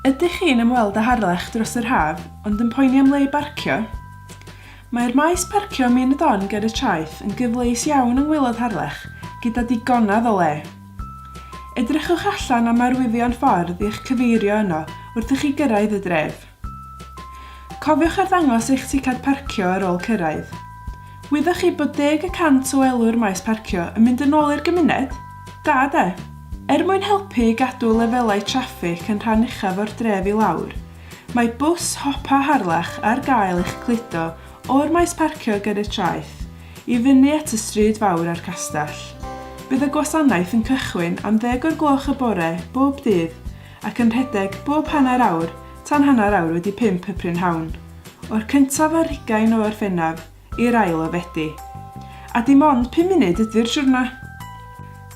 Ydych chi'n ymweld â Harlech dros yr haf ond yn poeni am le i barcio? Mae'r maes parcio Min y Don ger y traeth yn gyfleus iawn yng ngwaelod Harlech, gyda digonedd o le. Edrychwch allan am arwyddion ffordd i'ch cyfeirio yno wrth i chi gyrraedd y dref. Cofiwch arddangos eich ticad parcio ar ôl cyrraedd. Wyddoch chi bod deg y cant o elw'r maes parcio yn mynd yn ôl i'r gymuned? Da de? Er mwyn helpu i gadw lefelau traffig yn rhan uchaf o'r dref i lawr, mae bws Hopa Harlech ar gael i'ch cludo o'r maes parcio ger y traeth i fyny at y stryd fawr a'r castell. Bydd y gwasanaeth yn cychwyn am ddeg o'r gloch y bore bob dydd ac yn rhedeg bob hanner awr tan hanner awr wedi pump y prynhawn, o'r cyntaf ar hugain o Orffennaf i'r ail o Fedi. A dim ond pum munud ydy'r siwrna!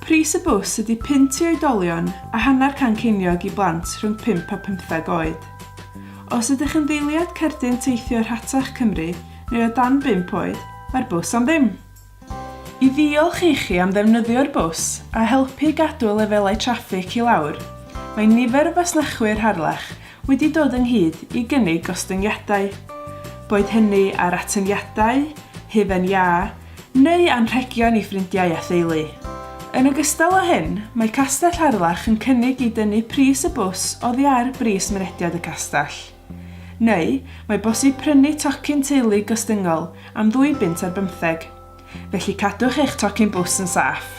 Pris y bws ydy punt i oedolion a hanner can ceiniog i blant rhwng pump a phymtheg oed. Os ydych yn ddeiliad cerdyn teithio rhatach Cymru neu o dan bump oed, mae'r bws am ddim! I ddiolch ichi am ddefnyddio'r bws a helpu i gadw lefelau traffig i lawr, mae nifer o fasnachwyr Harlech wedi dod ynghyd i gynnig gostyngiadau, boed hynny ar atyniadau, hufen iâ, neu anrhegion i ffrindiau a theulu. Yn ogystal â hyn, mae Castell Harlech yn cynnig i dynnu pris y bws oddi ar bris mynediad y castell. Neu, mae bosib prynu tocyn teulu gostyngol am ddwy bunt ar bymtheg, felly cadwch eich tocyn bws yn saff.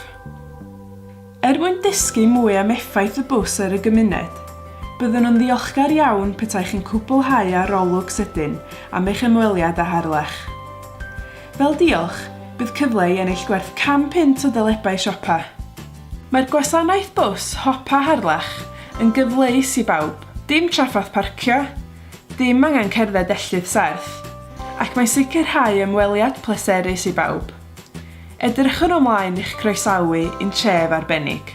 Er mwyn dysgu mwy am effaith y bws ar y gymuned, byddwn yn ddiolchgar iawn petai chi'n cwblhau arolwg sydyn am eich ymweliad â Harlech. Fel diolch, bydd cyfle i ennill gwerth 100 punt o dalebau siopa. Mae'r gwasanaeth bws Hopa Harlech yn gyfleus i bawb, dim trafferth parcio, dim angen cerdded felltith serth, ac mae'n sicrhau ymweliad pleserus i bawb. Edrychwn ymlaen i'ch croesawu i'n tref arbennig.